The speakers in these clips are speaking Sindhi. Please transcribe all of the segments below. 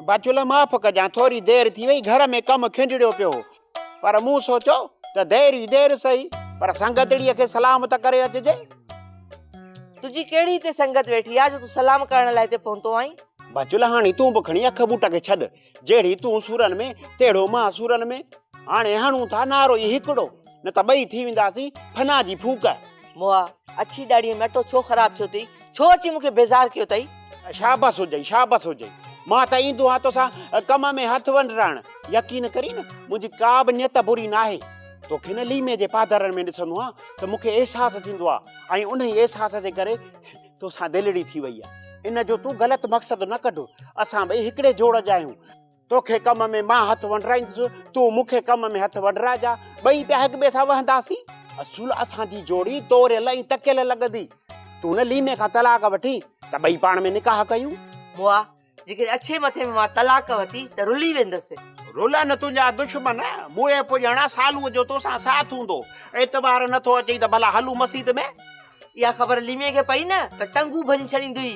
بچوله معاف ڪجان ٿوري دير ٿي وئي گهر ۾ ڪم کنڊڙيو پيو هو پر مون سوچيو ته دير ئي دير سهي پر سنگتڙيء کي سلام ته ڪري اچجي تنهنجي ڪهڙي هتي سنگت ويٺي آهي جو تون سلام ڪرڻ لاء هتي پهتو آهين؟ بچوله هاڻي تون به کڻي اک ٻوٽ کي ڇڏ جهڙي تون سورن ۾ تهڙو مان سورن ۾ هاڻي هڻون ٿا نعرو ئي هڪڙو نه ته ٻئي ٿي وينداسين فنا جي ڦوڪ. موآ، اڇي ڏاڙهيء ۾ اٽو ڇو خراب ٿيو ٿئي؟ ڇو اچي مون کي بيزار ڪيو ٿئي؟ شابس هجئي، شابس هجئي. مان ته ايندو آهيان توسان ڪم ۾ هٿ ونڊرائڻ. يقين ڪرين منهنجي ڪا به نيت بري ناهي. توکي نه ليمي جي پادرن ۾ ڏسندو آهيان ته مون کي احساس ٿيندو آهي ۽ انهي احساس جي ڪري توسان دلڙي ٿي وئي آ ان جو تون غلط مقصد نه ڪڍ اسان ٻئي هڪڙي جوڙ جا آهيون توکي ڪم ۾ مان هٿ ونڊرائيندس تون مون کي ڪم ۾ هٿ ونڊرائجا ٻئي پيا هڪ ٻئي سان وهنداسين اصول اسان جي جوڙي توريل ۽ تڪيل لڳندي تون نه ليمي کان طلاق وٺي ته ٻئي پاڻ ۾ نڪاح ڪيون موا جيڪڏهن اڇي مٿي ۾ مان طلاق وتي ته رلي ويندس. رلن تنهنجا دشمن، مون اهي پڄاڻا سالوء جو تو سان ساٿ هوندو. اعتبار نه ٿو اچئي ته ڀلا هلون مسيت ۾. اها خبر ليمي کي پئي نه ته ٽنگون ڀڃي ڇڏيندئي.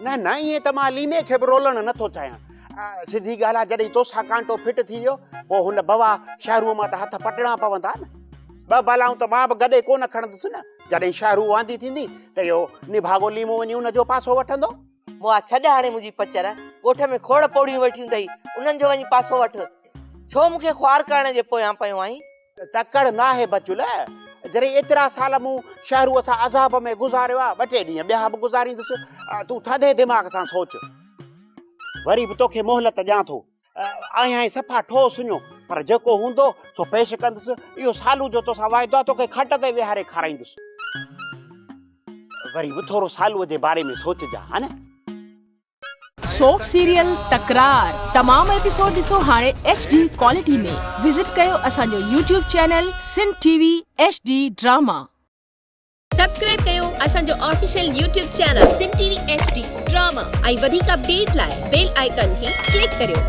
نه نه ائين ته مان ليمي کي به رولڻ نه ٿو چاهيان. سڌي ڳالهه آهي جڏهن تو سان ڪانٽو فٽ ٿي ويو پوء هن بوا شهروء مان ته هٿ پٽڻا پوندا نه. ٻه بلائون ته مان به گڏي ڪونه کڻندس نه. جڏهن شهرو واندي ٿيندي ته اهو نڀاڳو ليمو وڃي ان جو پاسو وٺندو. موآ ڇڏ هاڻي منهنجي پچر، ڳوٺ ۾ کوڙ پوڙهيون ويٺيون اٿئي، انهن جو وڃي پاسو وٺ، ڇو مون کي خوار ڪرڻ جي پويان پيو آهين؟ تڪڙ ناهي بچول، جڏهن ايترا سال مون شهروء سان عذاب ۾ گذاريا، ٻه ٽي ڏينهن ٻيا به گذاريندس، تون ٿڌي دماغ سان سوچ، وري به توکي مهلت ڏيان ٿو. آهيانء صفا ٺوهه سڃو، پر جيڪو هوندو سو پيش ڪندس، اهو سالو جو توسان واعدو آهي، توکي کٽ تي ويهاري کارائيندس. وري به ٿورو سالوء جي باري ۾ سوچجان ها نه. سوف سيريل تڪرار تمام ايپيسوڊ ڏسو هاڻي ايڇ ڊي ڪوالٽي ۾ وزٽ ڪيو اسان جو YouTube channel Sindh T V H D drama. Subscribe ڪيو اسان جو official YouTube channel Sindh T V H D drama ۽ وڌيڪ اپڊيٽ لاء بيل آئيڪن کي ڪلڪ ڪريو.